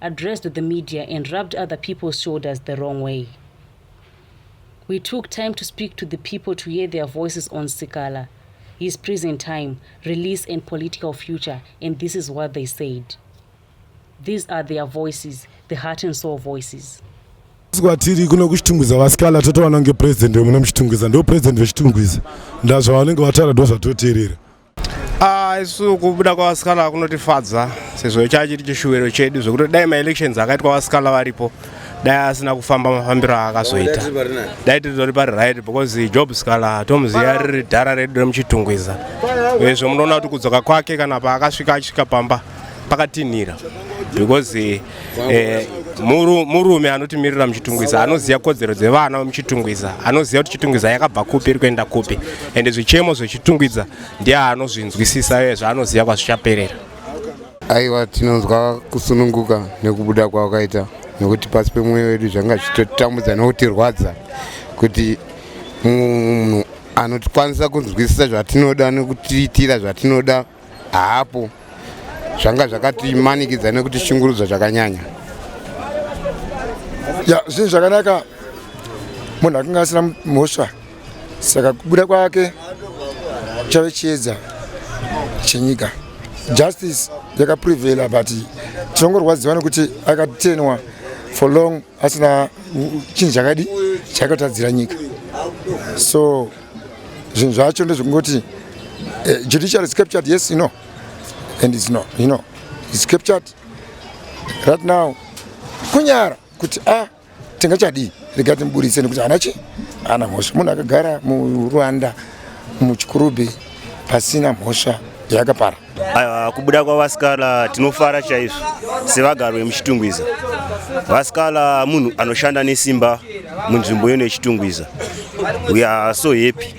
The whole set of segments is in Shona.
addressed the media and rubbed other people's shoulders the wrong way. We took time to speak to the people to hear their voices on Sikala, his prison time, release, and political future, and this is what they said. These are their voices, the heart and soul voices. kwatiri kuno kuchitungwiza vasikala totowana kunge president wemuno muchitungwiza ndo president vechitungwiza ndazvavanenge vataura ndozvatoteerera Ah, isu kubuda kwavasikala kunotifadza sezvo chachi chiri chishuwiro chedu zvekuti dai maelections akaitwa vasikala varipo dai asina kufamba mafambiro aakazoita dai tiritori pari right because job sikala tomuziva riri dhara redu remuchitungwiza uyezve munoona kuti kudzoka kwake kana paakasvika achisvika pamba pakatinhira because eh, muru, murume anotimirira muchitungwiza anoziva kodzero dzevana vemuchitungwiza anoziva kuti chitungwiza yakabva kupi iri kuenda kupi ende zvichemo zvechitungwiza ndiye anozvinzwisisa iye zvaanoziva kwazvichaperera aiwa tinonzwa kusununguka nekubuda kwawakaita nekuti pasi pemwoyo wedu zvanga zvichitotambudza nekutirwadza kuti munhu anokwanisa kunzwisisa zvatinoda nekutiitira zvatinoda haapo zvanga zvakatimanikidza nekuti shungurudzo zvakanyanya ya zvinhu zvakanaka munhu akinge asina mhosva saka kubuda kwake chave chiedza chenyika justice yakaprevela but tinongorwadziwa nekuti akatenwa for long asina chinhu chakadi chakatadzira nyika so zvinhu zvacho ndezvekungoti uh, judiciary is captured yes you know and it's not you know it's captured right now kunyara kuti a ah, tingachadii rega timuburitse nekuti ana chi ana mhosva munhu akagara murwanda muchikurubhi pasina mhosva yakapara Aiwa, kubuda kwaVasikala tinofara chaizvo sevagari vemuChitungwiza. Vasikala munhu anoshanda nesimba munzvimbo yeno yeChitungwiza. We are so happy.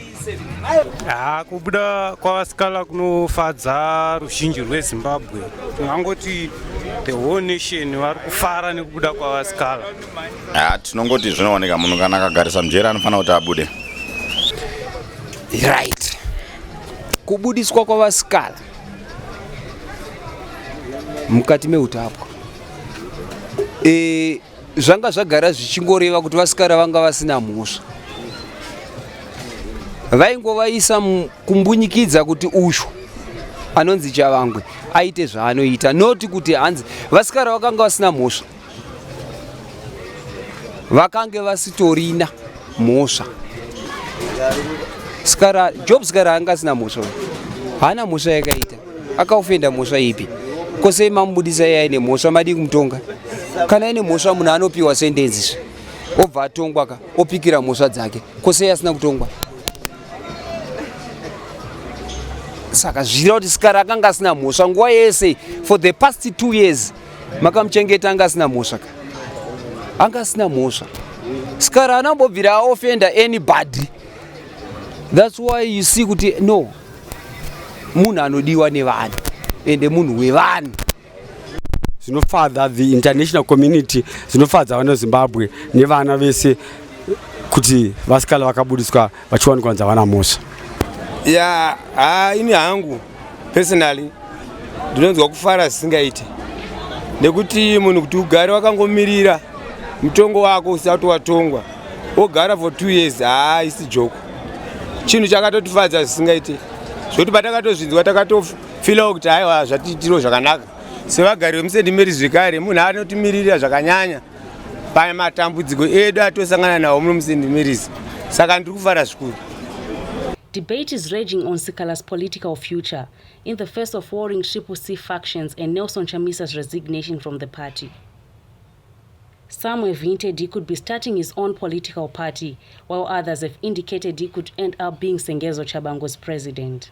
Haa, kubuda kwaVasikala kunofadza ruzhinji rweZimbabwe. Tingangoti the whole nation vari kufara nekubuda kwaVasikala. Haa, tinongoti zvinooneka munhu kana akagarisa mujeri anofanira kuti abude. Right. Kubudiswa kwavasikana mukati meutapwa e, zvanga zvagara zvichingoreva kuti vasikana vanga vasina mhosva vaingovaisa kumbunyikidza kuti usho anonzi chavangwe aite zvaanoita noti kuti hanzi vasikana vakanga vasina mhosva vakange vasitorina mhosva sikara job sikara anga asina mhosva haana mhosva yakaita akaofenda mhosva ipi kosei mamubudisa iye aine mhosva madii kumutonga kana aine mhosva munhu anopiwa sendenzi zve obva atongwa ka opikira mhosva dzake kosei asina kutongwa saka zvichira kuti sikara akanga asina mhosva nguva yese for the past two years makamuchengeta anga asina mhosva ka anga asina mhosva sikara anambobvira aofenda anybody thats why you see kuti no munhu anodiwa nevanhu ende munhu wevanhu zvinofadza the international community zvinofadza vana zimbabwe nevana vese kuti vasikala vakabudiswa vachiwanikwa nzavana mhosva ya yeah, ini hangu Personally ndinonzwa kufara zvisingaite nekuti munhu kuti ugare wakangomirira mutongo wako usati watongwa wogara for two years haisi joko chinhu chakatotifadza zvisingaite zvekuti patakatozvinzwa takatofilawo kuti haiwa zvatiitiro zvakanaka sevagari vemusendimeri zvekare munhu anotimirira zvakanyanya pane matambudziko edu atosangana nawo muno muSt Mary's saka ndiri kufara zvikuru Debate is raging on Sikala's political future in the face of warring triple C factions and Nelson Chamisa's resignation from the party. Some have hinted he could be starting his own political party, while others have indicated he could end up being Sengezo Chabango's president.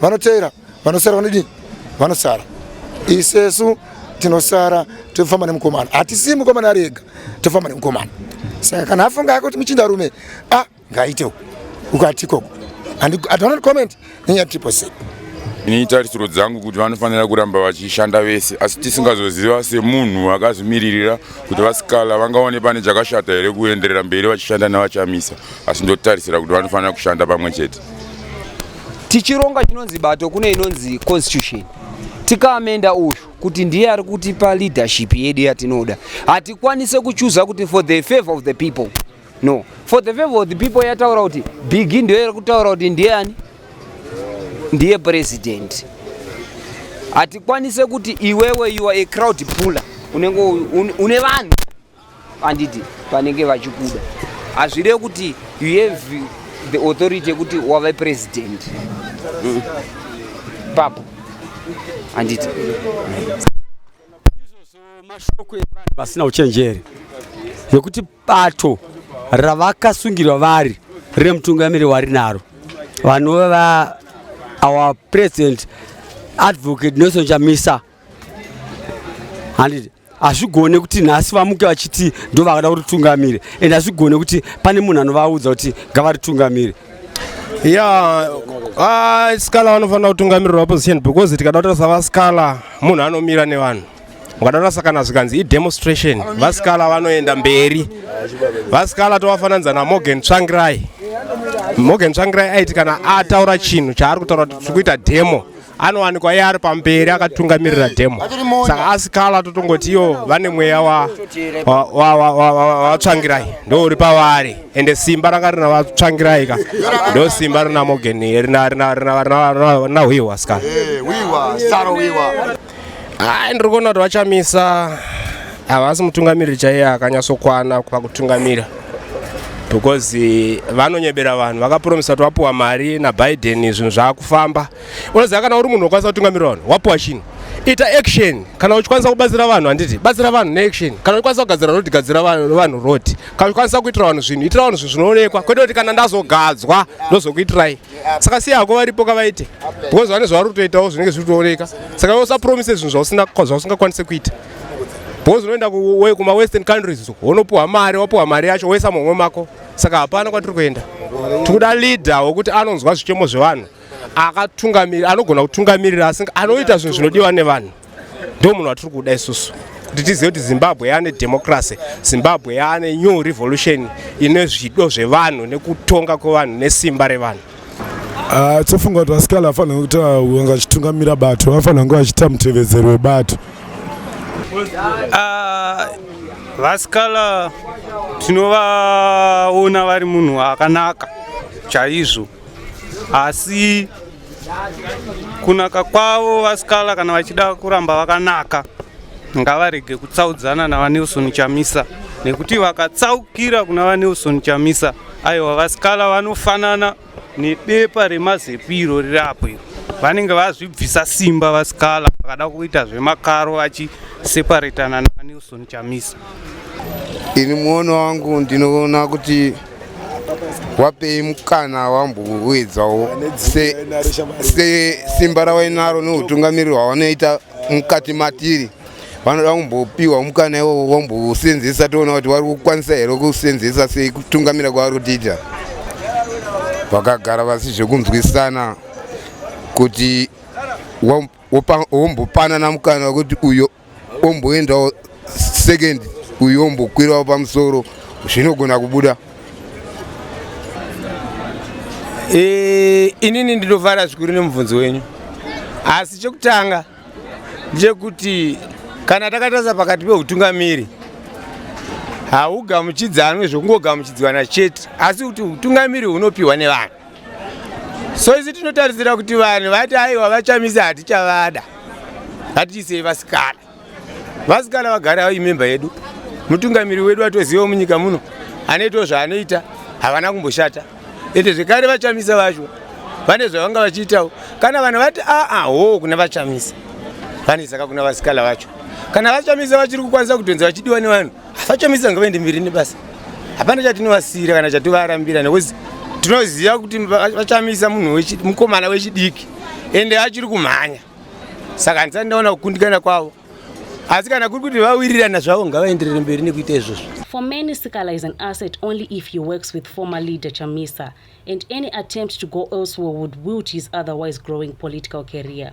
vanoteera vanosara vanodii vanosara isesu tinosara tofamba nemukomana hatisi mukomana ari ega tofamba nemukomana saka kana afunga yake kuti muchinda rume a ah, ngaitewo ukati ikoko and i don't comment nenyaya triple c ini tarisiro dzangu kuti vanofanira kuramba vachishanda vese asi tisingazoziva semunhu akazvimiririra kuti vasikala vangaone pane chakashata here kuenderera mberi vachishanda nevachamisa asi ndotarisira kuti vanofanira kushanda pamwe chete tichironga chinonzi bato kune inonzi constitution tikaamenda uyu kuti ndiye ari kutipa leadership yedu yatinoda hatikwanise kuchuza kuti for the favor of the people no for the favor of the people yataura kuti bigi ndiyo iri kutaura kuti ndiye ani ndiye president hatikwanise kuti iwewe you are a crowd puller unenge une vanhu anditi vanenge vachikuda hazvireve kuti you have the authority yekuti wave president mm. papo anditi mashoko evanhu vasina uchenjeri yekuti bato ravakasungirwa vari remutungamiri wari naro vanova our president advocate nelson chamisa handiti hazvigone kuti nhasi vamuke vachiti ndo vakada kuritungamire and hazvigone kuti pane munhu anovaudza kuti ngavaritungamire ya ah, skala vanofanira kutungamirira opposition because tikada kutaura savaskala munhu anomira nevanhu ukadaura sakana zvikanzi idemonstration vaskala vanoenda mberi vaskala tovafananidza namorgan tsvangirai morgan tsvangirai aiti kana ataura chinhu chaari kutaura kuti tiri kuita demo anowanikwa iye ari pamberi akatungamirira demo saka asikala totongoti iyo vane mweya watsvangirai ndo uri pavari ende simba ranga rina vatsvangirai ka ndo simba rina morgan rina hwihwa ska ai ndiri kuona kuti vachamisa havasi mutungamiriri chaiye akanyatsokwana pakutungamira because vanonyebera vanhu vakapromisa kuti vapiwa mari nabiden zvinhu zvaakufamba unoziva kana uri munhu wokwanisa kutungamirira vanhu wapiwa chinhu ita action kana uchikwanisa kubatsira vanhu handiti batsira vanhu neaction kana uchikwanisa kugadzira roti gadzira vanhu roti kana uchikwanisa kuitira vanhu zvinhu itira vanhu zvinhu zvinoonekwa kwete kuti kana ndazogadzwa ndozokuitirai saka siya hako varipo kavaite because vane zvavari kutoitawo zvinenge zviri kutooneka saka iwe usapromise zvinhu zvausingakwanise kuita because unoenda kumawestern countries wonopiwa mari wapiwa mari yacho woisa mumwe mako saka hapana kwatiri kuenda tikuda leader wekuti anonzwa zvichemo zvevanhu akatungamirira anogona kutungamirira asi anoita zvinhu zvinodiwa nevanhu ndo munhu watiri kuda isusu kuti tizive kuti zimbabwe yaane democracy zimbabwe yaane new revolution ine zvido zvevanhu nekutonga kwevanhu nesimba revanhu ah, tofunga kuti vasikana vafanira kuita vanga vachitungamira bato vafanira kunge vachiita mutevedzero webato ah, vasikala tinovaona vari munhu akanaka chaizvo asi kunaka kwavo vasikala kana vachida kuramba vakanaka ngavarege kutsaudzana navanelson chamisa nekuti vakatsaukira kuna vanelson chamisa aiwa vasikala vanofanana nebepa remazepiro riri apo iro vanenge vazvibvisa simba vasikala vakada kuita zvemakaro vachiseparetana navanelson chamisa ini muono wangu ndinoona kuti wapei mukana wambouyedzawo sesimba rawainaro neutungamiriri hwavanoita mukati matiri vanoda kumbopiwa mukana iwowo vombousenzesa toona kuti vari kukwanisa here kusenzesa sei kutungamira kwavari kutiita vakagara vasi zvekunzwisana kuti wamp wombopanana mukana wekuti uyo omboendawo second uyo ombokwirawo pamusoro zvinogona kubuda e, inini ndinovara zvikuru nemubvunzo wenyu asi chekutanga ndechekuti kana takatarisa pakati peutungamiri haugamuchidzanwe zvekungogamuchidzwana chete asi kuti utungamiri hunopiwa nevanhu so isu tinotarisira kuti vanhu vati aiwa vachamisa hatichavada hatiisei vasikana vasikana vagara avo imemba yedu mutungamiri wedu atoziva munyika muno anoitawo zvaanoita havana kumboshata ende zvekare vachamisa vacho vane zvavanga vachiitawo kana vanhu vati aa ah, ah, hoo kuna vachamisa vane saka kuna vasikana vacho kana vachamisa vachiri kukwanisa kutonzi vachidiwa nevanhu Vachomisa ngavende mbiri nebasa. Hapana chatinovasira kana chativarambira nekuti tinoziva kuti vachamisa munhu mukomana wechidiki ende achiri kumhanya. Saka handisati ndaona kukundikana kwavo. asi kana kuri kuti vawirirana zvavo ngavaenderere mberi nekuita izvozvo for many sikala is an asset only if he works with former leader chamisa and any attempt to go elsewhere would wilt his otherwise growing political career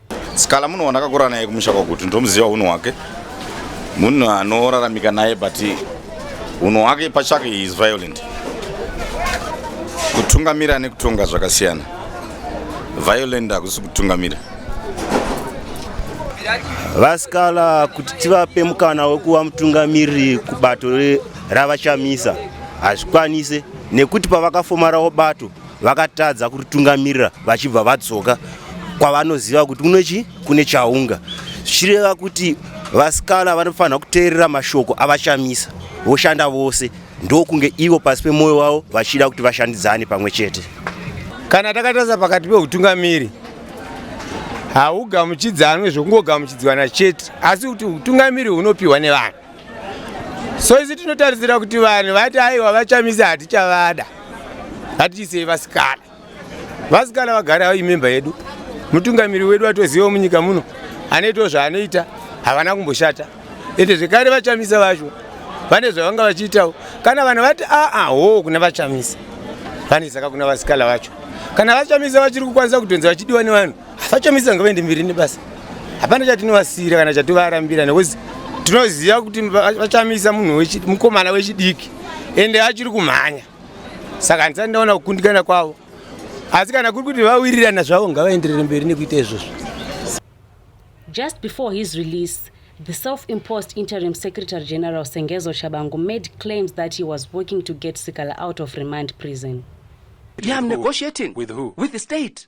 Skala munhu wandakakura naye kumusha kwakuti ndomuziva unhu hwake munhu anoraramika naye but unhu hwake pachake he is violent kutungamira nekutonga zvakasiyana violent hakusi kutungamira vasikala kuti tivape mukana wekuva mutungamiriri kubato ravachamisa hazvikwanise nekuti pavakafomarawo bato vakatadza kuritungamirira vachibva vadzoka kwavanoziva kuti kuno chi kune chaunga zvichireva kuti vasikana vanofanira kuteerera mashoko avachamisa voshanda vose ndokunge ivo pasi pemwoyo wavo vachida kuti vashandidzane pamwe chete kana takatarisa pakati peutungamiri haugamuchidzanwe zvekungogamuchidzwana chete asi kuti utungamiri hunopiwa nevanhu so isu tinotarisira kuti vanhu vati aiwa vachamisa hatichavada hatiisei vasikana vasikana vagare avo imemba yedu mutungamiri wedu atoziva munyika muno anoitawo zvaanoita havana kumboshata ende zvekare vachamisa vacho vane zvavanga vachiitawo kana vanhu vati aa hoo kuna vachamisa vane saka kuna vasikana vacho kana vachamisa vachiri kukwanisa kutonzi vachidiwa nevanhu vachamisira ngavaende mberi nebasa hapana chatinovasira kana chatovarambira nekuti tinoziva kuti vachamisa munhu mukomana wechidiki ende achiri kumhanya saka handisati ndaona kukundikana kwavo asi kana kuri kuti vawirirana zvavo ngavaenderere mberi nekuita izvozvo just before his release The self-imposed interim secretary general Sengezo Shabangu made claims that he was working to get Sikala out of remand prison. Yeah, I'm negotiating. With who? With the state.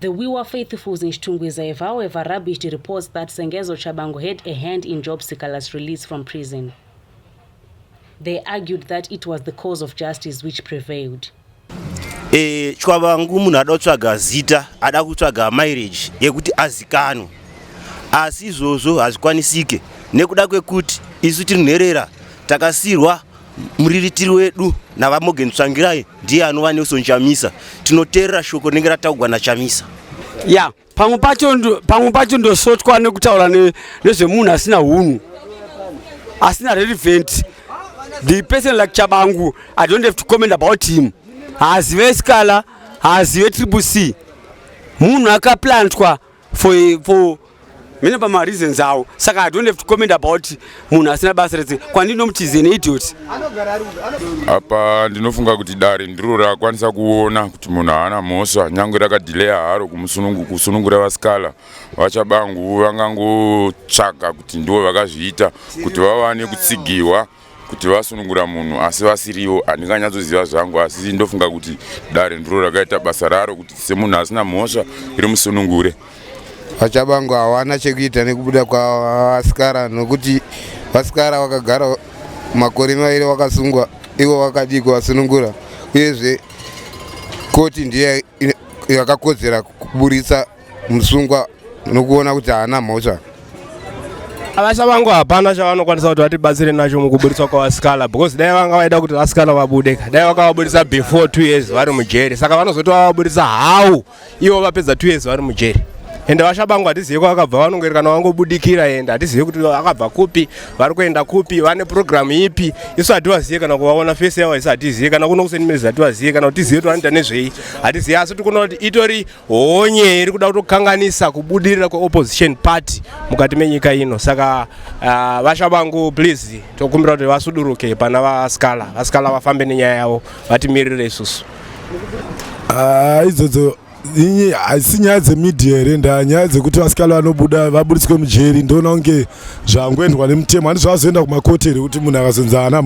The Wiwa faithfuls in Chitungwiza have however rubbish the reports that Sengezo Tshabangu had a hand in Job Sikala's release from prison. They argued that it was the cause of justice which prevailed. E, Tshabangu munhu ada kutsvaga zita, ada kutsvaga marriage yekuti azikanwe. Asi izvozvo hazvikwanisike nekuda kwekuti isu tiri nherera takasirwa muriritiri wedu navamogen tsvangirai ndiye anova nelson chamisa tinoteerera shoko rinenge rataugwa nachamisa ya yeah, pamwe pacho pamwe pacho ndosotwa nekutaura nezvemunhu ne asina hunhu asina relevant the person like chabangu i don't have to comment about him haazive sikala haazive triple c munhu akaplantwa for, for mene pamareasons awo saka i don't have to comment about munhu asina basa rese kwandiri nomuti is an idiot apa ndinofunga kuti dare ndiro rakwanisa kuona kuti munhu haana mhosva nyange rakadhileya haro kusunungura vasikala vachabangu vangangotsvaga kuti ndivo vakazviita kuti vawane kutsigirwa kuti vasunungura munhu asi vasiriwo handinganyatsoziva zvangu asi ndofunga kuti dare ndiro rakaita basa raro kuti semunhu asina mhosva iri musunungure vachabango hawana chekuita nekubuda kwavasikara nokuti vasikara vakagara makore maviri vakasungwa ivo vakadii kuvasunungura uyezve koti ndiye yakakodzera kuburitsa musungwa nokuona kuti haana mhosva vasha vangu hapana chavanokwanisa kuti vatibatsire nacho mukuburitswa kwavasikala because dai vanga vaida kuti vasikala vabude ka dai vakavaburitsa before two years vari mujeri saka vanozoti vavaburitsa how ivo vapedza two years vari mujeri ende vasha vangu hatizive kwavakabva vanongoerekana vangobudikira ende hatizive kuti vakabva kupi vari kuenda kupi vane purogiramu ipi isu hativazive kana kuvaona fesi yavo isu hatizive kana kuno kusenimirizi hativazive kana kuti tizive kuti vanoita nezvei hatizive asi tikuona kuti itori honye iri kuda kutokanganisa kubudirira kweopposition party mukati menyika ino saka uh, vasha vangu please tokumbira kuti vasuduruke pana vaskala vaskala vafambe nenyaya yavo vatimirire isusu ah, idzodzo inyi haisi nyaya dzemedia here nda nyaya dzekuti vasikalo vanobuda vaburitswe mujeri ndoona kunge zvangoendwa nemutemo handi zvavazoenda kumakoti here kuti munhu akazonzi ana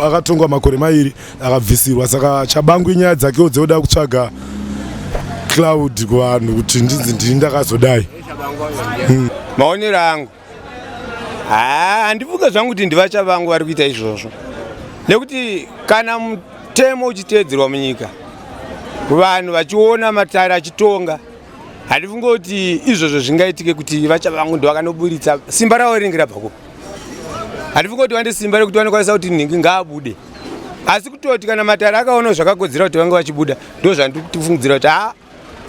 akatongwa makore mairi akabvisirwa saka chabangu inyaya dzakewo dzekuda kutsvaga cloud kuvanhu kuti ndinzi ndini ndakazodai hmm. maonero angu handifunge zvangu kuti ndivacha vangu vari kuita izvozvo nekuti kana mutemo uchiteedzerwa munyika vanhu vachiona matare achitonga handifunge kuti izvozvo zvingaitike kuti vacha vangu ndovakanoburitsa simba ravo rinenge rabva kupi handifunge kuti vane simba rekuti vanokwanisa kuti nhingi ngaabude asi kutoti kana matare akaona zvakakodzera kuti vange vachibuda ndo zvandikufungidzira kuti haa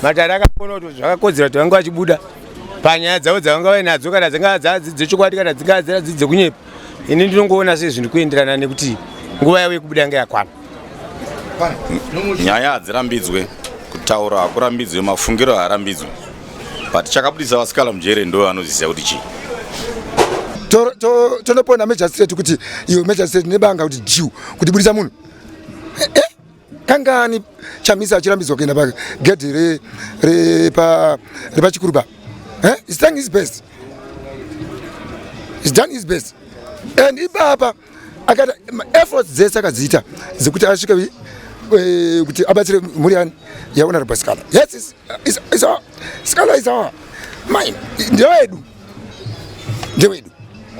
matare akaona kuti zvakakodzera kuti vange vachibuda panyaya dzavo dzavanga vainadzo kana dzingava dzechokwadi kana dzingava dziradzii dzekunyepa ini ndinongoona sei zvinhu kuenderana nekuti nguva yavo yekubuda yanga yakwana nyaya hadzirambidzwe kutaura hakurambidzwe mafungiro haarambidzwe but chakabudisa vasikala mujere ndo anoziziva kuti chii tonopoenda to, to magistrate kuti iyo magistrate nebanga kuti jiu kuti budisa munhu eh, eh, kangani chamisa achirambidzwa kuenda pagedhi repachikuruba re, re eh? is done his best is done his best and ipapa akati efforts dzese akadziita dzekuti asvike eh, kuti abatsire mhuri yani yahonorable scala yes scala is our mine ndewedu ndewedu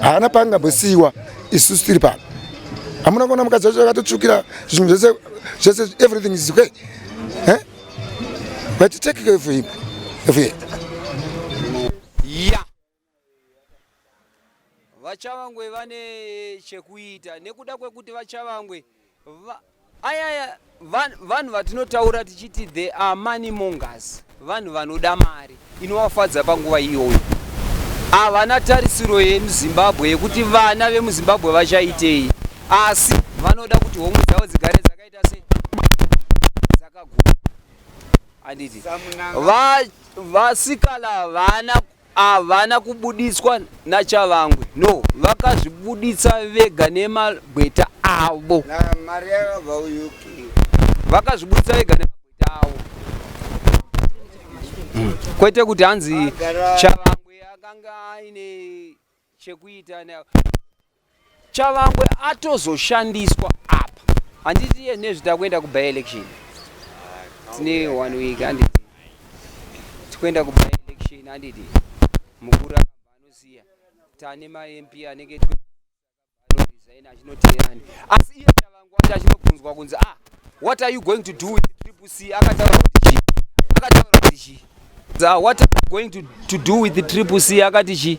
haana paangambosiyiwa isusu tiri pano hamuna kuona mukadzi wacho akatotsvukira zvinhu zvese zvese everything is okay eh? but take care of him of him yeah. vachavangwe vane chekuita nekuda kwekuti vachavangwe va, ayaya vanhu vatinotaura tichiti the are money mongers vanhu vanoda mari inovafadza panguva iyoyo havana tarisiro yemuzimbabwe yekuti vana vemuzimbabwe vachaitei asi vanoda kuti homwe dzavo dzigare dzakaita se dzakagura handiti vasikala vana Havana kubuditswa naChavangwe no vakazvibuditsa vega nemagweta avo. Na mari yakabva kuUK. Vakazvibuditsa vega nemagweta avo. Kwete kuti hanzi Chavangwe akanga aine chekuita chavangwe atozoshandiswa apa handiti iye nezvi takuenda kuby election tine one week handiti tikuenda kuby election handiti mukuru akamba anoziya tane mamp anenge anoresign achinotirani asi iye chavangu wacho achinobvunzwa kunzi ah what are you going to do with triple c akataura kuti chii akataura kuti chii ah, what are you going to, to do with the triple c akati chii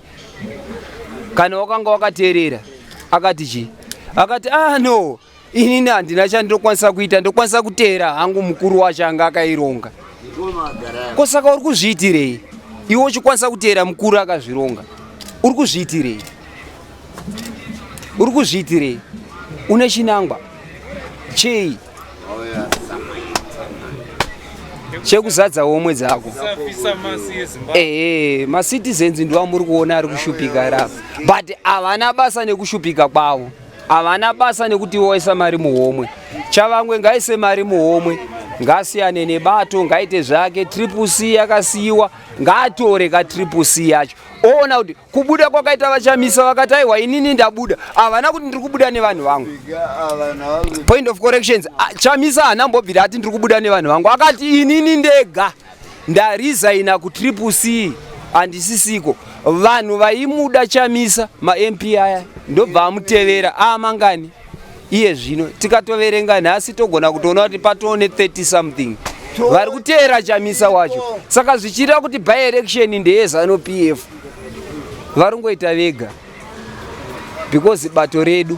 kana wakanga wakateerera akati chii akati ah no inini handina chandinokwanisa kuita ndokwanisa kuteera hangu mukuru wacho anga akaironga ko saka uri kuzviitirei iwe uchikwanisa kuteera mukuru akazvironga uri kuzviitirei uri kuzviitirei une chinangwa chei chekuzadza homwe dzako ehe macitizens ndiwamuri kuona ari kushupika rapo but havana basa nekushupika kwavo Havana basa nekuti voisa mari muhomwe. Chavangwe ngaise mari muhomwe ngasiyane nebato ngaite zvake triple c yakasiyiwa ngaatore ka triple c yacho oona kuti kubuda kwakaita vachamisa vakati aiwa inini ndabuda havana kuti ndiri kubuda nevanhu vangu point of corrections chamisa haana mbobvira ati ndiri kubuda nevanhu vangu akati inini ndega Ndarizaina ku triple C handisisiko vanhu vaimuda chamisa ma MP aya ndobva amutevera aamangani iye zvino tikatoverenga nhasi togona kutoona kuti patoo ne 30 something vari kuteera chamisa wacho saka zvichiita kuti by election ndeye zanu p f vari ngoita vega because bato redu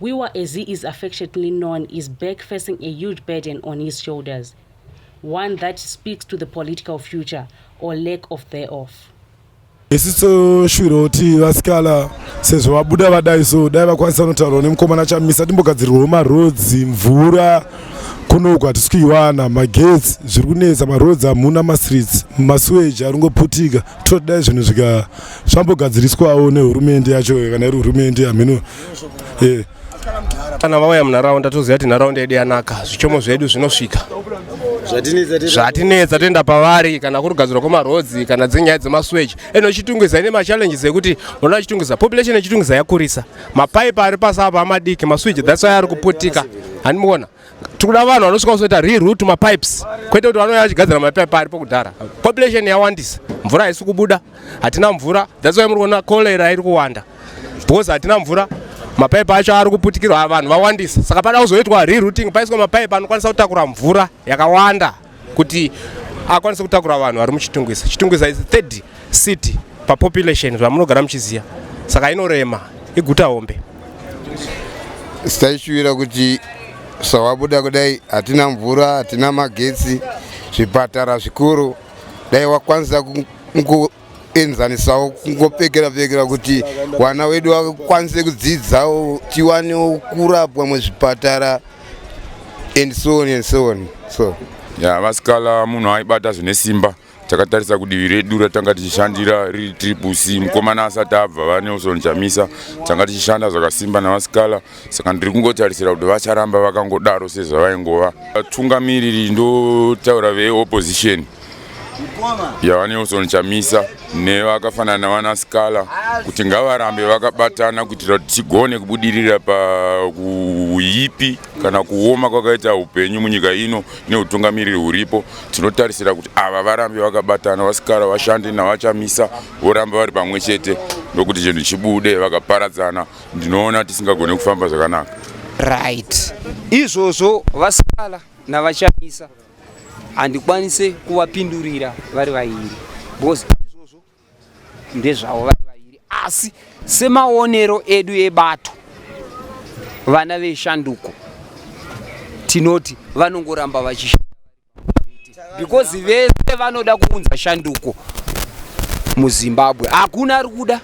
Wiwa as he is affectionately known is back facing a huge burden on his shoulders, one that speaks to the political future or lack of thereof. Isi toshuvira kuti vasikala sezvo vabuda vadai so dai vakwanisa kunotaurwa nemukomana chamisa timbogadzirwawo maroads mvura kunoku hatisi kuiwana magetsi zviri kunetsa maroads hamuna mastreets masuweji ari kungoputika toti dai zvinhu zvika zvambogadziriswawo nehurumende yacho kana iri hurumende hameno eh. kana vauya munharaunda toziva kuti nharaunda yedu yanaka zvichomo zvedu zvinosvika zvatinetsa toenda pavari kana kuri kugadzirwa kwemarhodzi kana dzenyaya dzemaswechi eno chitungwiza ine machallenges ekuti unoona chitungwiza population yechitungwiza yakurisa mapaipi ari pasi apa amadiki maswechi that's why ari kuputika handimuona tikuda vanhu vanosvika kuzoita reroot mapipes kwete kuti vanouya vachigadzira mapipe aripo kudhara population yawandisa mvura haisi kubuda hatina mvura that's why muri kuona cholera iri kuwanda because hatina mvura mapaipi acho ari kuputikirwa vanhu vawandisa saka pada kuzoitwa rerouting paiswa mapaipi anokwanisa kutakura mvura yakawanda kuti akwanise kutakura vanhu vari muchitungwiza chitungwiza is third city papopulation zvamunogara muchiziva saka inorema iguta hombe sitaishuvira kuti sawabuda kudai hatina mvura hatina magetsi zvipatara zvikuru dai wakwanisa enzanisawo kungopfekera pfekera kuti vana wedu vakwanise kudzidzawo tiwanewo kurapwa muzvipatara and so on and so on so ya vasikala munhu aibata zvine simba takatarisa kudivi redu ratanga tichishandira riri triple c mukomana asati abva vanelson chamisa tanga tichishanda zvakasimba navasikala saka ndiri kungotarisira kuti vacharamba vakangodaro sezvavaingova vatungamiriri ndotaura veopposition yavanelson chamisa nevakafanana navana scala kuti ngavarambe vakabatana kuitira kuti tigone kubudirira pakuipi kana kuoma kwakaita upenyu munyika ino neutungamiriri huripo tinotarisira kuti ava varambe vakabatana vasikala vashande navachamisa voramba vari pamwe chete ndokuti chinhu chibude vakaparadzana ndinoona tisingagone kufamba zvakanaka right izvozvo vasikala navachamisa handikwanise kuvapindurira vari vairi because izvozvo ndezvavo vari vairi asi semaonero edu ebato vana veshanduko tinoti vanongoramba vachishanda because vese vanoda kuunza shanduko muzimbabwe hakuna ari kuda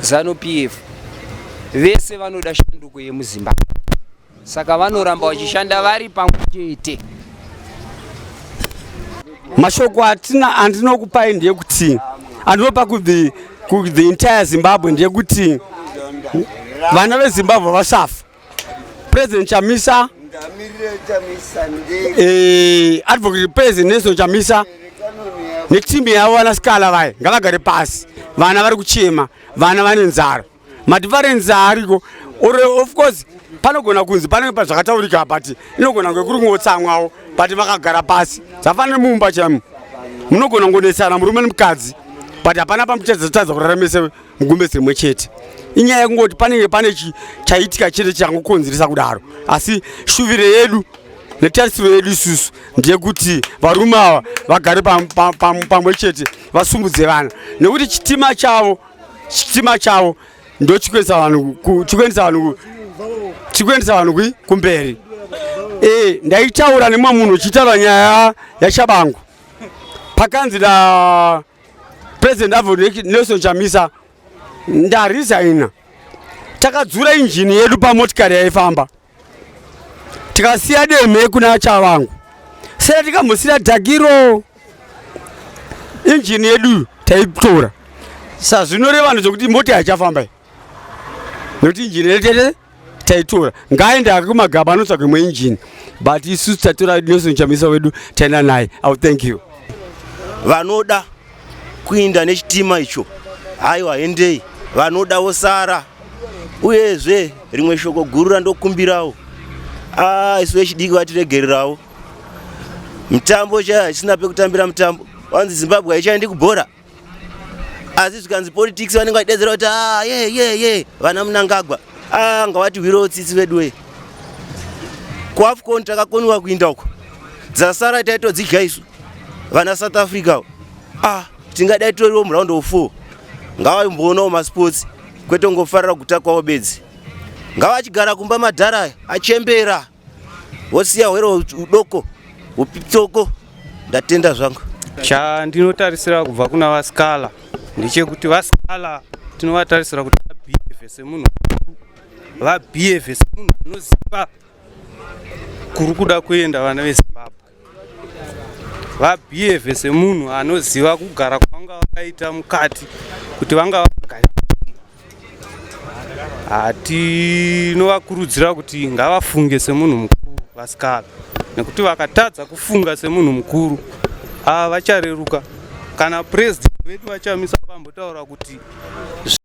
zanu p f vese vanoda shanduko yemuzimbabwe Saka vanoramba vachishanda vari pamwe chete. Mashoko atina andinokupai ndeyekuti andinopa kuti ku the entire Zimbabwe ndeyekuti vana veZimbabwe vasafa. President Chamisa eh, Advocate President Nelson Chamisa netimu yavo vanasikala vaya ngavagare pasi, vana vari kuchema, vana vane nzara. madifference ariko or of course panogona kunzi panenge pazvakataurika but inogona kunge kuri kungotsamwawo but vakagara pasi zvafanira mumba chaimo munogona kungonetsana murume nemukadzi but hapana pamuchadzatadza kuraramisa mugumbe dzimwe chete inyaya yekungoti panenge pane chaitika chete changokonzeresa kudaro asi shuviro yedu netarisiro yedu isusu ndeyekuti varume ava vagare pamwe chete vasumudze vana nekuti chitima chavo chitima chavo ndochikuendesa vanhu chikuendesa vanhu chikuendesa vanhu kui kumberi e, ndaitaura nemumwe munhu uchitaura nyaya yachabangu pakanzi na president avo nelson chamisa ndarisaina takadzura injini yedu pamotikari yaifamba tikasiya demhe kuna chavangu sera tikambosiya dhakiro injini yedu taitora sazvinoreva no zvokuti mota yachafamba i nokuti injini yetete taitora ngaaende ake kumagaba anotsvaka imwe injini but isu tatora nelson chamisa wedu taenda naye iw thank you vanoda kuinda nechitima icho haiwa hendei vanoda vosara uyezve rimwe shoko guru randokumbirawo ah, isu vechidiki vatiregererawo mitambo chaya haisina pekutambira mitambo wanzi zimbabwe haichaendi kubhora asi zvikanzi politics vanenge vachidedzera kuti ah, ye ye ye vana munangagwa ah, ngavatihwirewo tsitsi veduwe kuafcon takakoniwa kuinda uko dzasara taitodzidya isu vana south africa ah tingadai toriwo muround of four ngavaimboonawo masports kwete ungofarira kuta kwavo bedzi ngavachigara kumba madhara achembera wosiya hwere udoko upitsoko ndatenda zvangu chandinotarisira kubva kuna vaskala ndechekuti vaskala tinovatarisira kuti vabhiyevhe semunhu vabhiyevhe semunhu anoziva kuri kuda kuenda vana vezimbabwe vabhiyevhe semunhu anoziva kugara kwavanga vakaita mukati kuti vanga vagari hatinovakurudzira kuti ngavafunge semunhu mukuru vasikana nekuti vakatadza kufunga semunhu mukuru ava vachareruka kana president vedu vachamisa vambotaura kuti